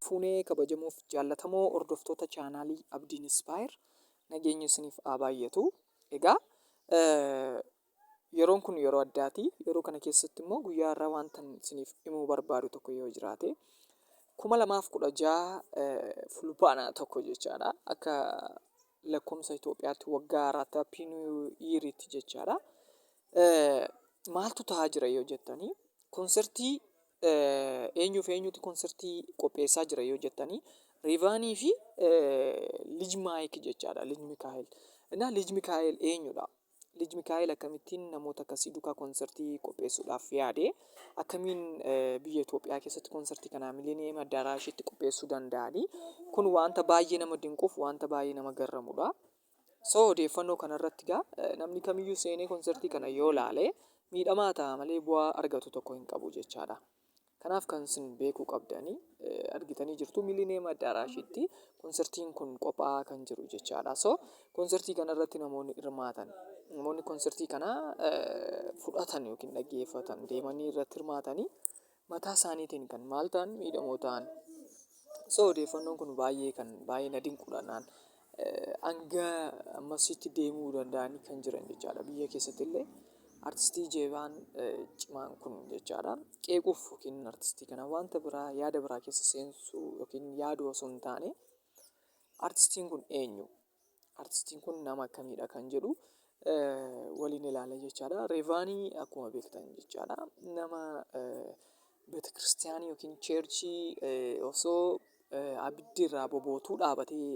fuunee kabajamuuf jaallatamoo hordoftoota chaanaalii Abdiin Ispaayer nageenyi isiniif haa baay'atu. Egaa yeroon kun yeroo addaati. Yeroo kana keessatti immoo guyyaa har'aa wanta isiniif himuu barbaadu tokko yoo jiraate kuma lamaaf kudha jaha fulbaana tokko jechaadha akka lakkoomsa Itoophiyaatti waggaa haaraatti happy new year itti jechaadha. Eh, Maaltu ta'aa jira yoo jettanii konsertii eh, eenyuuf eenyuuti konsertii qopheessaa jira yoo jettanii Rivaanii fi eh, Lij Maayik jechaadha Lij Mikaa'el. Innaa Lij Mikaa'el eenyudha? Lij Mikaa'el akkamittiin namoota akkasii dukaa konsertii qopheessuudhaaf yaade? Akkamiin biyya Itoophiyaa keessatti konsertii kanaa Mileniyeem Addaaraashitti qopheessuu danda'ani? Kun wanta baay'ee nama dinquuf wanta baay'ee nama garramudha. So odeeffannoo kanarratti gaa namni kamiyyuu seenee konsertii kana yoo laale miidhamaa ta'a malee bu'aa argatu tokko hin qabu jechaadha. Kanaaf kan isin beekuu qabdani argitanii jirtu Millennium Addaaraashitti konsertiin kun qophaa'aa kan jiru jechaadha. So konsertii kana irratti namoonni hirmaatan namoonni konsertii kana fudhatan yookiin dhaggeeffatan deemanii irratti hirmaatanii mataa isaaniitiin kan maal ta'an miidhamoo ta'an. So odeeffannoon kun baay'ee kan baay'ee na dinquudhaan. hanga ammasitti deemuu danda'anii kan jiran jechaadha. Biyya keessatti illee artistii jeebaan cimaan kun jechaadha. Qeequuf yookiin artistii kana wanta biraa yaada biraa keessa seensuu yookiin yaaduu osoo hin taane artistiin kun eenyu? Artistiin kun nama akkamiidha kan jedhu waliin ilaalla jechaadha. Reevaanii akkuma beektan jechaadha. Nama Beetekiristiyaanii yookiin cheerchii osoo abiddi irraa bobootuu dhaabatee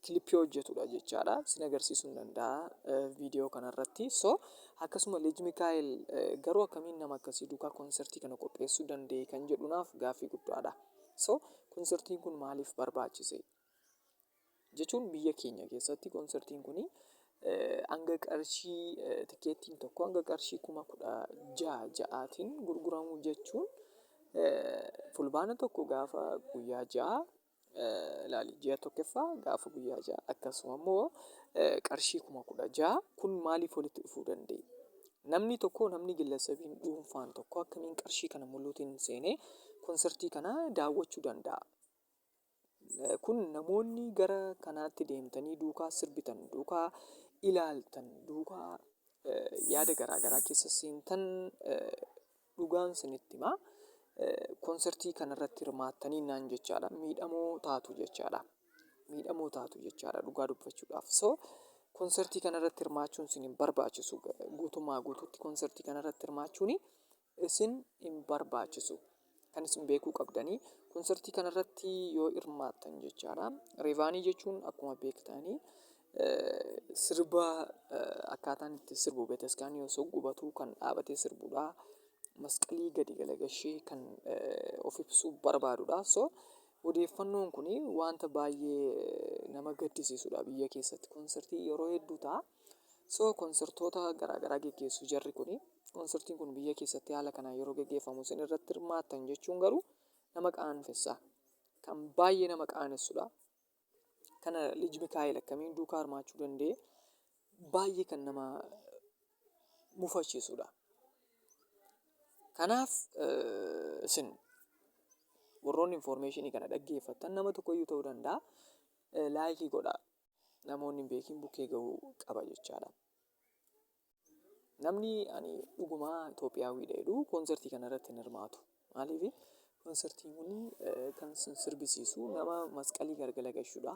kilippii hojjetudha jechaadha. Sin agarsiisuu hin danda'a viidiyoo kanarratti. So akkasuma Lij Mikaa'el garuu akkamiin nama akkasii duukaa konsertii kana qopheessuu danda'e kan jedhu naaf gaaffii guddaadha. So konsertiin kun maaliif barbaachise? Jechuun biyya keenya keessatti konsertiin kun hanga qarshii tikeettiin tokko hanga qarshii kuma kudha ja'a ja'aatiin gurguramu jechuun fulbaana tokko gaafa guyyaa ja'a ilaali ji'a tokkoffaa gaafa guyyaa ja'a akkasuma immoo qarshii kuma kudha ja'a kun maaliif walitti dhufuu danda'e? Namni tokko namni gillessabiin dhuunfaan tokko akkamiin qarshii kana muluutiin seenee konsertii kana daawwachuu danda'a? Kun namoonni gara kanaatti deemtanii duukaa sirbitan, duukaa ilaaltan, duukaa yaada garaa garaa keessa seentan dhugaan isinitti hima. Konsertii kanarratti hirmaattaniinnaan jechaadha miidhamoo taatu jechaadha. Miidhamoo taatu jechaadha dhugaa dubbachuudhaaf. So konsertii kanarratti hirmaachuun isin hin barbaachisu. Guutummaa guutuutti konsertii kanarratti hirmaachuun isin hin barbaachisu. Kan isin beekuu qabdanii konsartii kanarratti yoo hirmaattan jechaadha. Reevaanii jechuun akkuma beektanii sirba akkaataan itti sirbu beetaskaan osoo gubatuu kan dhaabatee sirbudha. Masqalii gadi galagashee kan of ibsuu barbaadudha. So odeeffannoon kun wanta baay'ee nama gaddisiisudha biyya keessatti konsartii yeroo hedduu ta'a. So konsertoota garaa garaa geggeessu jarri kuni. Konsertiin kun biyya keessatti haala kanaan yeroo geggeeffamu isin irratti hirmaattan jechuun garuu nama qaanfessa. Kan baay'ee nama qaanessudha. Kana Lij Mikaa'el akkamiin duukaa hirmaachuu danda'e baay'ee kan nama mufachiisudha. Kanaaf isin warroonni infoormeeshinii kana dhaggeeffattan nama tokkoyyuu ta'uu danda'a laayikii godhaa. namoonni hin beekin bukkee gahuu qaba jechaadha. Namni ani dhugumaa Itoophiyaawwiidha jedhu koonsartii kana irratti hin hirmaatu. Maaliif koonsartiin kun eh, kan sin sirbisiisu nama masqalii gargala gashudha.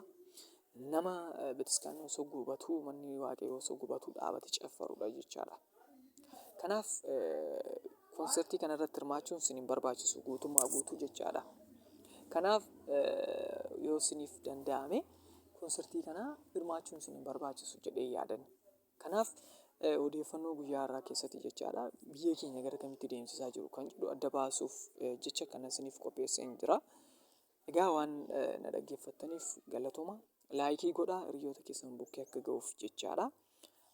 Nama eh, bataskaanni osoo gubatuu manni waaqayyoo osoo gubatuu dhaabate caffarudha jechaadha. Kanaaf konsertii kana irratti hirmaachuun isin hin barbaachisu guutummaa guutuu jechaadha. Kanaaf yoo isiniif danda'ame konsertii kana hirmaachuun isin hin barbaachisu jedhee yaadan. Kanaaf odeeffannoo guyyaa har'aa keessatti jechaadha biyya keenya gara kamitti deemsisaa jiru kan jedhu adda baasuuf jecha kana isiniif qopheesseen jira. Egaa waan na dhaggeeffattaniif galatoma. Laayikii godhaa hiriyoota keessan bukkee akka ga'uuf jechaadha.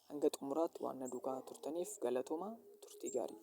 Hanga xumuraatti waan na duukaa turtaniif galatoma turtii gaarii.